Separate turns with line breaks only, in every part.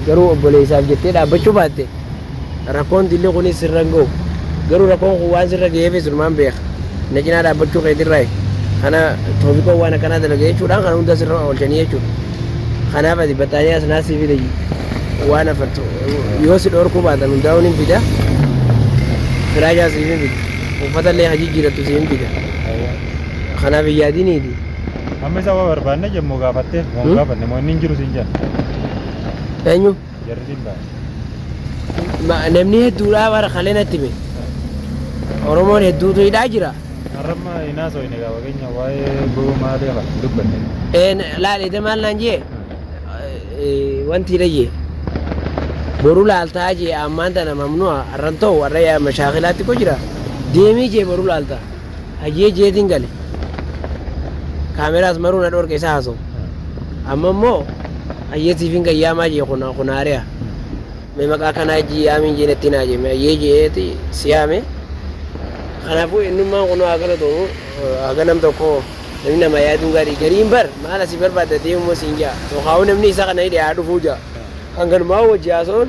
Garuu obboleessaaf jettee dhaabbachuu baatte rakkoon dilli kunis sirra hin ga'u. Garuu rakkoon kun waan sirra ga'eefis numaan beeka. Na cinaa dhaabbachuu keetirraayi. Kana Toofiqoon waan akkanaa dalage jechuudhaan kana hunda sirra oolchanii jechuudha. Kanaaf ati battaaniyaas naa sii fide waan afartu yoo si dhorkuu baatan hundaa'uun hin fida. Firaashaa siif hin fida. Uffata illee ha jijjiirattu siif hin fida. Kanaaf hin yaadiniiti. Amma isa waa
barbaanne jemmoo gaafattee moo hin Hmm? gaafanne moo inni hin jiru siin jedhan Eenyu?
jarri siin ba'a.
Ma- Namni hedduudhaa
bara kalee natti hime. Oromoon hedduutu hidhaa jira. Har'amma hin
haasofne gaa fageenya waa'ee gowwa maalii afa hin dubbanne. Een, Laalite maal naan
jee? Eh, Wanti dhayyee. Boru laaltaa jee ammaan tana mamnu'a har'an ta'u har'a yaa mashaakilaatti ko jira. Deemii jee boru laaltaa. Hayyee jeetiin gale. Kaameraas maruu na dhoorke isa haasoo. Amma immoo hayyee siifin gayyaamaa jee kun kun haari'a. Mee maqaa kanaa ijji yaamiin jee natti naa jee mee hayyee jeeti si yaame. Kanaafuu eenyummaan kun haa galatoomu haga nam tokko namni nama yaaduun gaarii gariin bar maal asii barbaadda deemu moo siin ja'a. Yookaan namni isa kana hidhe haa dhufuu ja'a. Kan galumaa wajji haasa'uun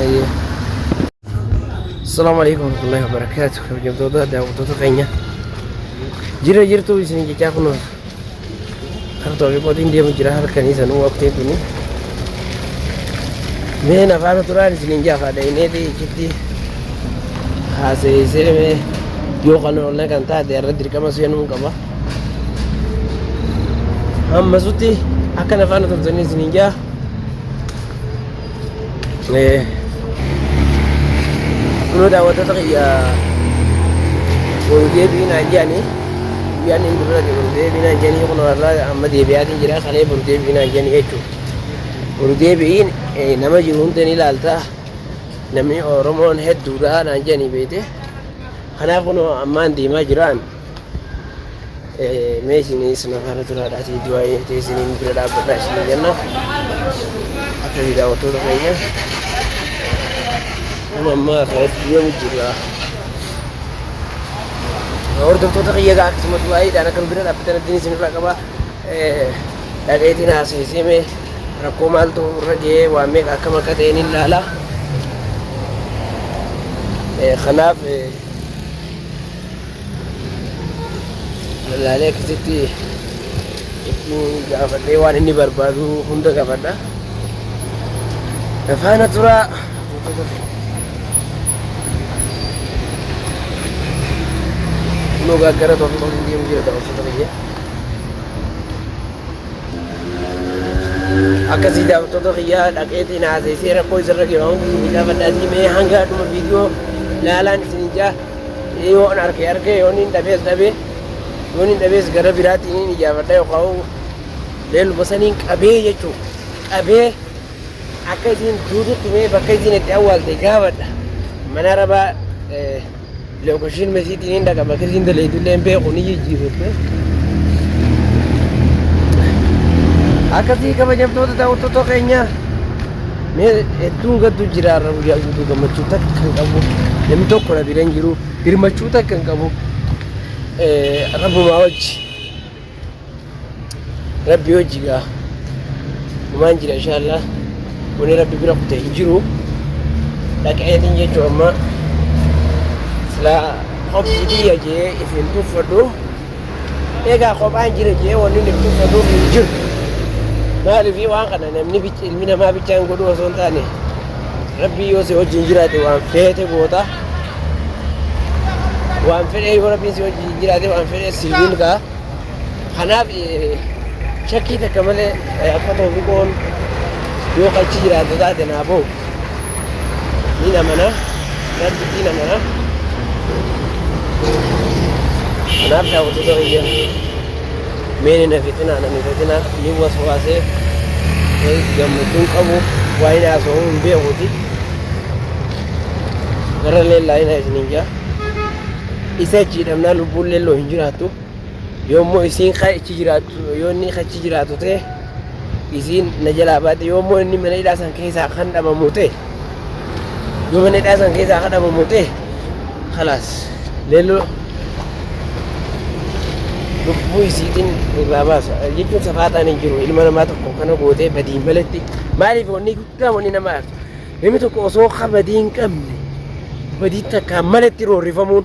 Ayyee. Assalamu alaikum warahmatullahi wabarakatuh. Kabajamtoota daawwattoota keenya. Jira jirtuu isin jechaa kun kan toofi qotiin deemu jira halkanii sanuu waqtiin kuni. Mee nafaana turaan isiniin jaafaa dha'ineeti ichitti haasayeessee mee yoo kan oollee kan taate irra dirqama seenuu qaba. Hammasutti akka nafaana turtanii isiniin jaa. Kunoo daawwattoota kiyya wal deebiin naan jedhanii guyyaan inni dura wal deebiin naan jedhanii kunoo har'aa amma deebi'aatiin jira kalee wal deebiin naan jedhanii jechuudha. Wal deebiin nama jiru hunda ni ilaalta namni Oromoon hedduudha naan jedhanii beekte. Kanaaf kunoo ammaan deemaa jiraan mee isinis na faana turaadhaatii du'aa'ee ta'e isiniin bira dhaabbadhaa isiniin jenna akka daawwattoota keenya amma ammaa kanatti deemu jirra hordoftoota kiyya egaa akkasuma du'aa'iidhaan akka nu bira dhaabbatan abdiin isinirraa qaba dhaqeetiin haasa'isee mee rakkoo maaltu irra ga'ee waan meeqa akkam akka ta'een hin laala kanaaf Laalee akkasitti itti gaafadhee waan inni barbaadu hunda gaafadha. Faana turaa. Kunoo gaaggara tokko tokko hin deemu jira daawwattoota biyya. Akkasii daawwattoota biyyaa dhaqeetiin haasa'isee rakkoo isarra ga'e waan hundi gaafadhaatii mee hanga dhuma viidiyoo laalaan isin hin jaa. Yoon arke arke yoon hin dhabees dhabe yoon hin dhabees gara biraatti niin ijaafadha yookaan leelluma saniin qabee jechuu qabee akka isiin duututti mee bakka isiin itti awwaalte gaafadha mana rabaa lookashiin mesiitiin hin dhaqa bakka isiin daleetullee hin beeku ni jijjiifatte. Akkasii kabajamtoota daawwattoota keenyaa. Mee hedduun gaddu jira har'a guyyaa guutuu gammachuu takka kan qabu namni tokko na bira hin jiru birmachuu takka kan qabu eh, rabbumaa wajji rabbi wajji gaa gumaan jira inshaallah wani rabbi bira kute hin jiru dhaqeetiin jechuu amma silaa hobbiitii yajee ifin tuffadhu Egaa kophaan jira jee wanni inni bitu saduuf hin jiru. Maaliifii waan kana namni bicha ilmi namaa bichaan godhu osoo hin taane rabbii yoo si wajjin jiraate waan feete goota. Waan fedhee yoo rabbiin si wajjin jiraate waan fedhee si milkaa. Kanaaf eh, shakkii takka malee eh, akka toofiqoon yoo qachi jiraatu taate naa booda. Niin amana. Rabbitti niin amana. Kanaaf daawwattoota biyya meen hin hafitinaa nan hifatinaa ni waswaasee gammachuun qabu waa'ee haasawuu hin beekuuti. Garralee laayinaa isiniin jaa. Isa achi hidhamnaa lubbuun leelloo hin jiraattu. Yoommoo isiin ka ichi jiraattu yoo inni ka ichi jiraatu ta'e isiin na jalaa baate yoommoo inni mana hidhaa san keessaa kan dhabamu ta'e yoo mana hidhaa san keessaa kan dhabamu ta'e kalaas leelloo lubbuu isiitiin irraa baasa jechuun safaaxaan hin jiru ilma namaa tokko kana gootee badiin maletti maaliif wanni guddaa wanni nama aartu namni tokko osoo ka badii hin qabne badii takkaan maletti roorrifamuun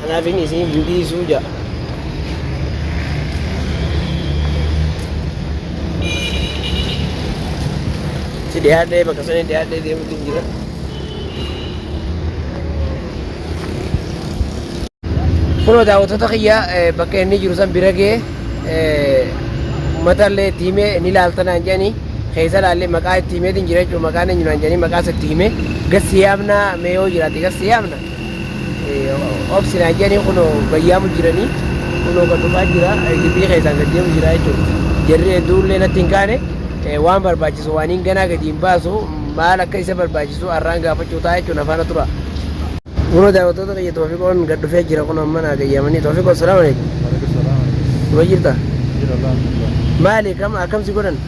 Kanaafin isiin hin dhiisuu ja'a. Si dhiyaadhee bakka sanii dhiyaadhee deemuutu hin jira. Kunoo daawwattoota kiyya bakka inni jiru san bira gee uummata illee itti himee ni laalta naan jedhanii keessa laallee maqaa itti himeetiin jira jechuudha maqaan eenyu naan jedhanii maqaas itti himee gassi yaamna mee yoo jiraate gassi yaamna. obsi naan jedhanii kunoo bayyaamu jiranii kunoo kan dhufaa jira gibbii keessaan gad deemu jira jechuudha. Jarri hedduullee natti hin kaane waan barbaachisu waan hin ganaa gadi hin baasu maal akka isa barbaachisu har'aan gaafachuu ta'a jechuun afaana tura. Kunoo daawwattoota kiyya Toofiqoon gad dhufee jira kunoo amma naa gayyaamanii Toofiqoo salaamu alaikum. Kuma jirta? Maali kam akkamsi godhan?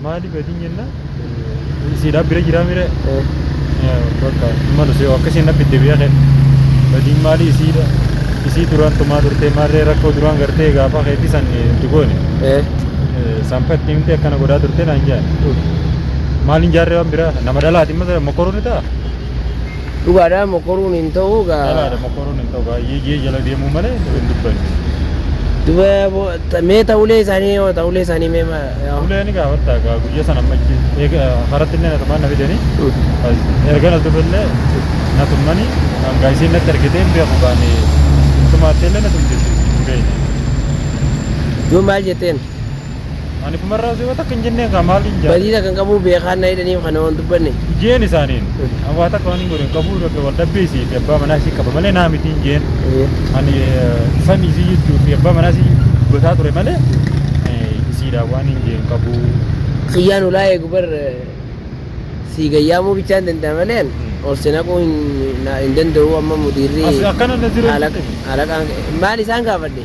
Maali badin
jenna siidhaa bira jiraa mire bakka malu si akka siin abbitte biyya kee badin maali isiidha isii duraan tumaa turtee maarree rakkoo duraan gartee gaafa keetii san itti goone sanfatti himte akkana godhaa turtee naan jaan maaliin jaarree waan biraa nama dhalaati mata mokoruun ni ta'a
dhugaadhaa mokoruun hin ta'uu gaa dhalaadha mokoruun hin ta'u
baay'ee jee jala deemuu malee hin dubbanne. Duba
Ta- Mee ta ulee isaanii yoo ta ulee isaanii mee ma- yoo. Ulee ni
gaafatta egaa guyyaa sana amma achi eega haratti illee natumaan na fidanii erga na tumellee na tummanii hangaa isiin natti ergitee hin beeku gaanii tumaattee illee na tumte isiin hin beekne.
Yoo maal jetteen Ani
kumarraa osoo yoo takka hin jennee egaa maal hin jaadha. badiisa kan qabuu beekaan
na hidhaniif kana waan dubbanne. Ijeen isaaniin
Abbaa takka waan hin godhe hin qabu bakka wal dhabbee isii fi abbaa manaa isii qaba malee naa miti hin jeen. Ani sami isii jechuu fi abbaa manaa isii dubbataa ture malee isiidhaa waan hin jeen qabu. Kiyyaan ulaa
eegu bar sii gayyaamuu bichaa hin danda'a malee an ol si naquu hin danda'u amma mudiirri haalaqaan maal isaan gaafadhe.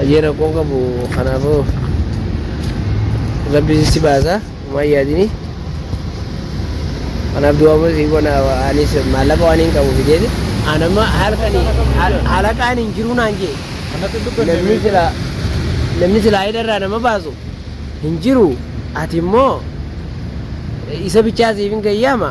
Ajee rakkoon qabu kanaafuu rabbi si baasa waan yaadini. Kanaaf du'a immoo si goona anis maallaqa waan hin qabu fideeti. An amma halkani halaqaan hin jiru naan jee. Kanatti hin dubbanne Namni beeku. silaa namni silaa hidharraa nama baasu hin jiru. Ati immoo isa bichaa siif hin gayyaama.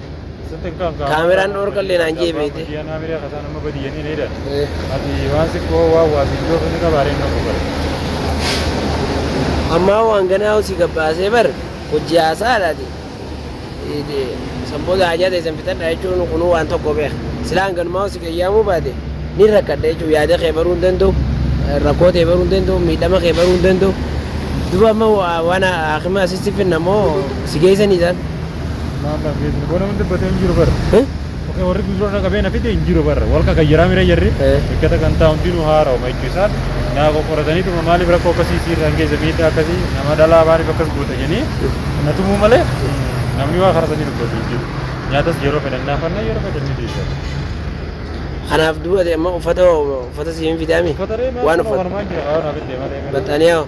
Kaameraan dhorka illee naan jee beekte. Ammaa waan ganaa hojii gabbaasee bar hojii haasaadhaati. Sanboota hajaa ta'e san fixadha jechuun kunuu waan tokko beeka. Silaan ganumaa hojii qayyaamuu baate ni rakkadha jechuun yaada kee baruu hin danda'u. Rakkoo ta'e baruu hin danda'u. Miidhama kee baruu hin danda'u. Duba amma waan haakima asitti finna moo si geessanii isaan? Maalaf
geessinu boo namni dubbatee hin jiru bara. Eh? Okee warri guduroo na qabee na fide hin jiru bara. Wal kaka jiraa mira jarri. Eh. Eeggata kan taa'u hundinuu haaraa'uma jechuu isaan naa qoqqorataniituma maaliif rakkoo akkasii siirraan geessa miidhaa akkasii nama dhalaa maaliif akkas goota jedhanii na tumuu malee mm, namni waa karaa sanii dubbatu hin jiru. Nyaatas yeroo fedhan naafanna yeroo fedhan ni deessan.
Kanaaf dubbate amma uffata hoo uffata siif hin fidaami? Uffata ree maal Waan kana uffata. wanumaan jira waan hafe deemaa deemaa. Baxxaniyaa hoo?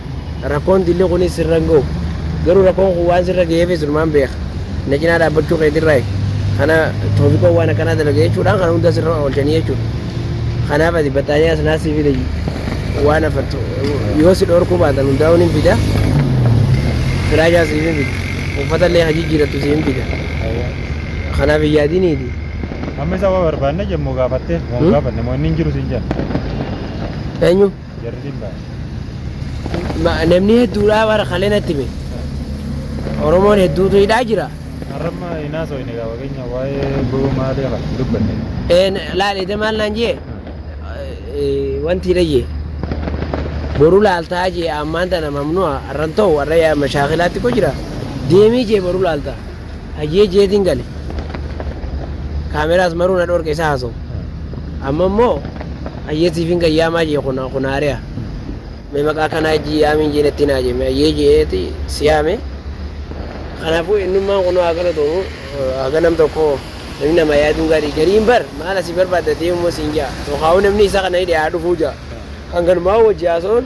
Rakkoon dilli kunis sirra hin gahu. Garuu rakkoon kun waan sirra gaheefis sirumaan beeka. Na cinaa dhaabbachuu keetirraayi kana Toofiqoon waan akkanaa dalage jechuudhaan kana hunda sirra oolchanii jechuudha. Kanaaf ati battaaniyaas naas si fide waan afartu yoo si dhoorkuu baatan hundaa'uu nin fida. Firaashaa siif hin fida. Uffata illee ka jijjiirattu siif hin fida. Kanaaf hin yaadiniiti. Amma isa waa
barbaanne jemmoo gaafattee waan gaafanne moo inni hin jiru siin jedhan.
Eenyu? Jarri
dhibbaa. Ma- Namni hedduudhaa
bara kalee natti hime. Oromoon hedduutu hidhaa jira. Har'amma hin
haasofne egaa fakkeenyaaf waa'ee goba maalii kana hin dubbanne. Eh, na- Laal eda maal naan
jee? Eh, Wanti hidha jee. Boru laaltaa jee ammaan tana mamnu'a har'an ta'u har'a yaa mashaakilaatti ko jira. Deemii jee boru laaltaa. Hayyee jeetiin gale. Kaameraas maruu na dhorke isa haasoo. Amma immoo hayyee siifin gayyaamaa jee kun kun haari'a. Mee maqaa kanaa ijji yaamiin jee natti naa jee mee hayyee jeeti si yaame. Kanaafuu eenyummaan kun haa galatoomu haga nam tokko namni nama yaaduun gaarii gariin bar maal asii barbaaddatee immoo siin jaa. Tokkaawuu namni isa kana hidhe haa dhufuu jaa. Kan galumaa wajji haasa'uun